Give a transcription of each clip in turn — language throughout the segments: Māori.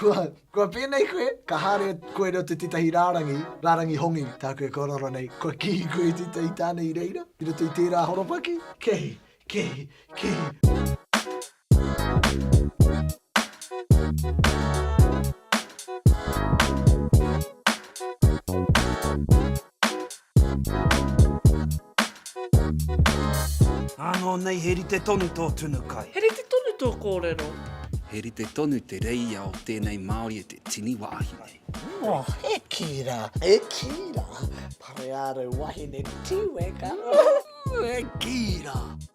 Kua, kua pēnei koe, ka haere koe reo te tētahi rārangi, rārangi hongi tāku e kōrero nei, kua kihi koe i tētahi tāne i reira, i roto i tērā horopaki, kihi, kihi, kihi. Ānō nei he rite tonu tō tunu kai. He rite tonu tō kōrero. He rite tonu te reia o tēnei Māori e te tini wāhi nei. Oh, he kī rā. He kī rā. Pareārau wahine tīweka. He kī rā.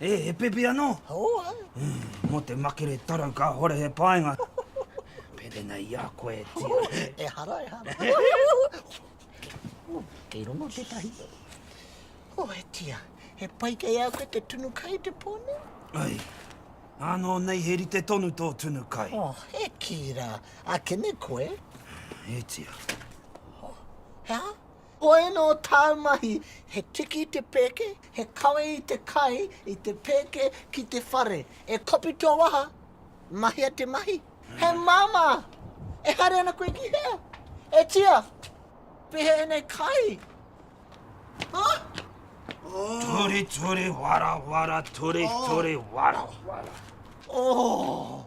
E, he pepe anō? Hoi. Mō te makere tarau kāhore he painga. Pepe nei i a koe, Tia. Ehara, ehara. Kei rongo tētahi. O, e Tia, he pai kei a koe te tunu kai te pō nei? Ai. Ānō nei he rite tonu tō tunu kai. O, e kī rā. Akene koe. E Tia. He aha? Hoi nō tāu mahi, he tiki i te pēke, he kawe i te kai, i te pēke ki te whare. E kopi tō waha, mahia te mahi. He māmā, e haere ana koe ki hea? E tia, pēhea ēnei kai? Ture, ture, wara, wara, ture, ture, wara, wara. Oh!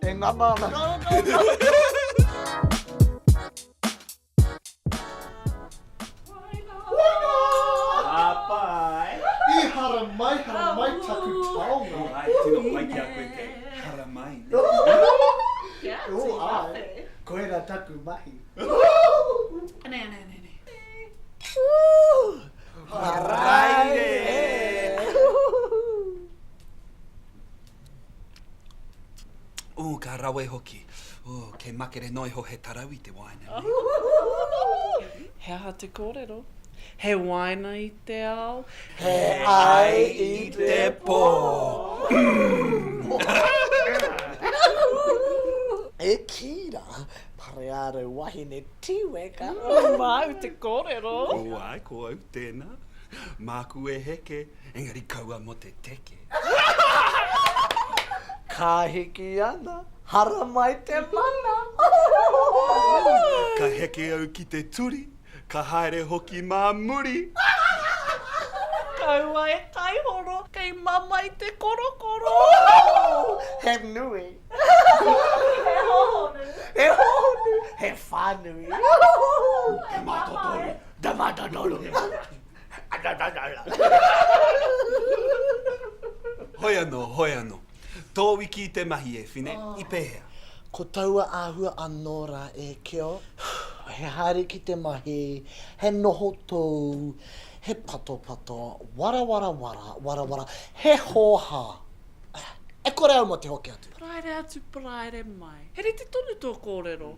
E ngana ana. Harai! Ooh, ka rawe hoki. Ooh, kei makere noa iho he tarau i te wāina nei. He aha te kōrero? He wāina i te ao. He ai i te pō. E kī rā, Pareārau wahine tīweka. Māu te kōrero. Ko wai, ko au tēnā. Māku e heke. Engari kaua mo te teke. Ka hiki ana, haramai te mana. Ka heke au ki te turi, ka haere hoki mā muri. Kaua e taihoro, kei mamae te korokoro. He nui. He hohonu. He hohonu, he whānui. He mātotoru, the matatoru. Hoi anō, hoi anō. Tō wiki i te mahi e Whine, i pēhea? Ko taua āhua anō rā e Keo. He haere ki te mahi, he noho tōu, he patopato, warawara-wara, warawara, he hōhā! E kore au mō te hoki atu. Paraire atu, paraire mai. He rite tonu tō kōrero.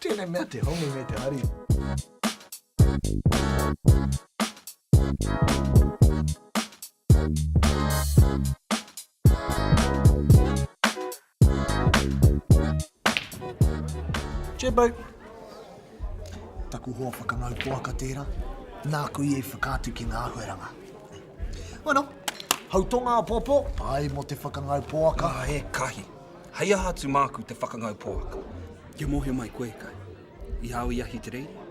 Tēnei mea te hongi me te hari. Jebbo. Taku hoa whakamau poaka tērā, nāku i whakaatu ki ngā āhuaranga. Bueno, hau tonga apōpō, āe mō te whakangau poaka. Āe, kahi. Hei aha atu māku te whakangau poaka? Kia mōhio mai koe kai, i hao i ahi te reire?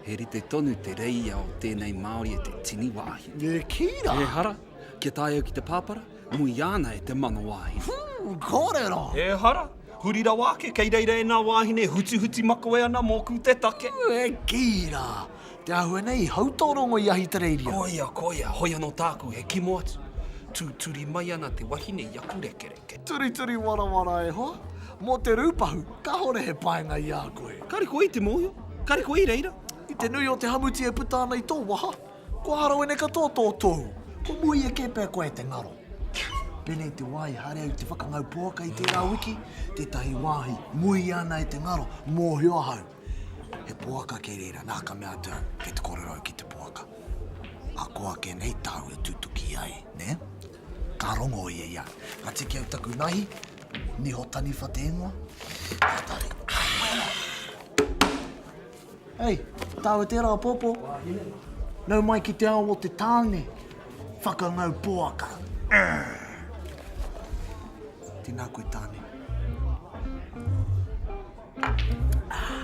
He rite tonu te reia o tēnei Māori e te tini wāhine. Nē, kī rā! Ehara, kia tae au ki te pāpara, muia ana e te mano wāhine. Whuu! Kōrero! Ehara, huri rawa ake, kei reira ēnā wāhine e hutihuti makoe ana mōku te take. Nē, kī rā! Te āhua nei i hau tō rongo i ahi te reiria. Koia, koia, hoi anō tāku he kimo atu. Tūturi mai ana te wahine i aku rekere. Te turituri warawara e hoa, mō te rūpahu, kāore he painga i a koe. Kāre koe i te mōhio, kāre koe i reira. I te nui o te hamuti e puta ana i tō waha, kua harawene katoa tō tohu. Kua muia kē pea koe e te ngaro. Pēnei te wā i haere ai te whakangau poaka i tērā wiki, tētahi wāhi, muia ana e te ngaro, mōhio ahau, he poaka kei reira, nā ka mea atu au, kei te kōrero au ki te poaka. Ahakoa ake nei tāu e tutuki ai, nē? Ka rongo ia i a. Ka tiki au taku nahi, niho taniwha te ingoa. Ka tari. Hei, tāu e tērā apōpō. Nau mai ki te ao o te tāne. Whakangau poaka. Tēnā koe tāne. Ah.